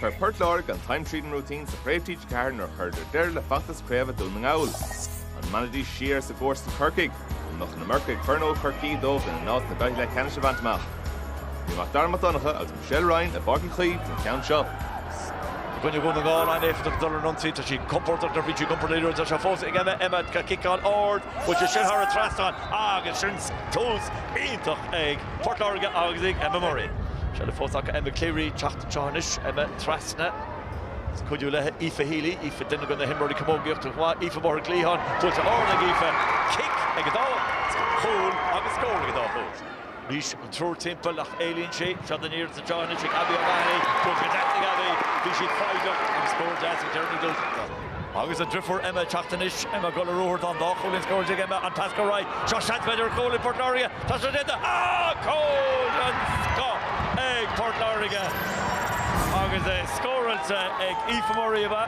Chuir Port Láirge an time tríd an routine sa Chraobh TG4 nuair a chuireadar deireadh le feachtas craoibhe Dún na nGall. An mbainfidís siar as a gcomharsain Corcaigh? Nó an mbeadh na Mercaigh Chornóg Chorcaí dóibh lena n-alt na gcaithfidh le ceannas a bhaint amach? Bhí Mac Dara Mac Donncha agus Michelle Ryan i bPáirc Uí Chaoimh don cheann seo. I gcoinne Dhún na nGall an-éifeachtach dul ar ionsaí. Tá siad compordach nuair a bhíonn siad ag iompar liathróide. Tá sé fós ag Emma, Emma, ciceáil ard. Bhain sé sin thar an trasnán. Agus sin tús iontach ag Port Láirge agus ag Emma Murray. Seilbh fós acu, Emma Cleary teacht anseo anois. Emma trasna. Ag cuidiú léi Aoife Healy. Aoife duine de na himreoirí camógaíochta go maith. Aoife amuigh ar an gcliathán. Buailte ard ag Aoife. Cic ag an dá chúl agus scór ag an dá chúl. Anois an triúr timpeall ach éalaíonn sí, seans anseo anois ag Abbie O'Mahony, dúirt sé deas ag Abbie, bhí sí foighdeach agus scór deas ag Jeremy Gilsenan. Agus a driofúr Emma ag teacht anois, Emma ag dul ar ruathar, tá an dá chúilín scóráilte ag Emma, an pas go Wright, seo seans b'fhéidir ar chúl ag Port Láirge, tá sé déanta, ah cúl den scoth ag Port Láirge agus é scóráilte ag Aoife Murray ab ea?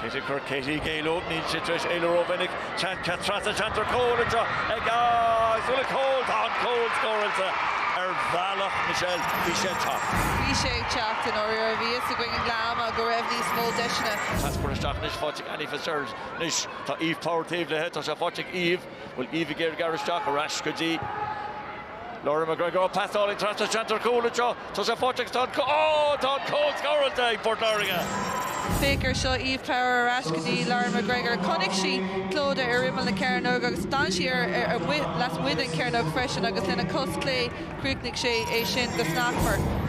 Katie Quirke, Katie ag éalú, níl sí tar éis éalú rómhinic, seans pas trasna cheantar cúil anseo agus bhuel cúl, tá an cúl scóráilte ar bhealach Michelle, bhí sé ag teacht. Bhí sé ag teacht i ndáiríre, bhí fhios againn i nGleann Magh go raibh níos mó deiseanna. Pas curtha isteach anois, faighte ag Annie Fitzgerald, anois tá Eve Power taobh léithe, tá sé faighte ag Eve. Bhfuil Eve ag iarraidh gearradh isteach, ar ais go dtí Lauren McGregor. Ó, pas álainn trasna cheantar cúil anseo. Tá sé faighte agus tá an, ó! Tá an cúl scóráilte ag Port Láirge! Féach air seo, Eve Power ar ais go dtí Lauren McGregor. Chonaic sí Clodagh ar imeall na cearnóg agus d'fhan sí ar lasmuigh den cearnóg freisin agus lena cos chlé chríochnaigh sí é sin go snasmhar.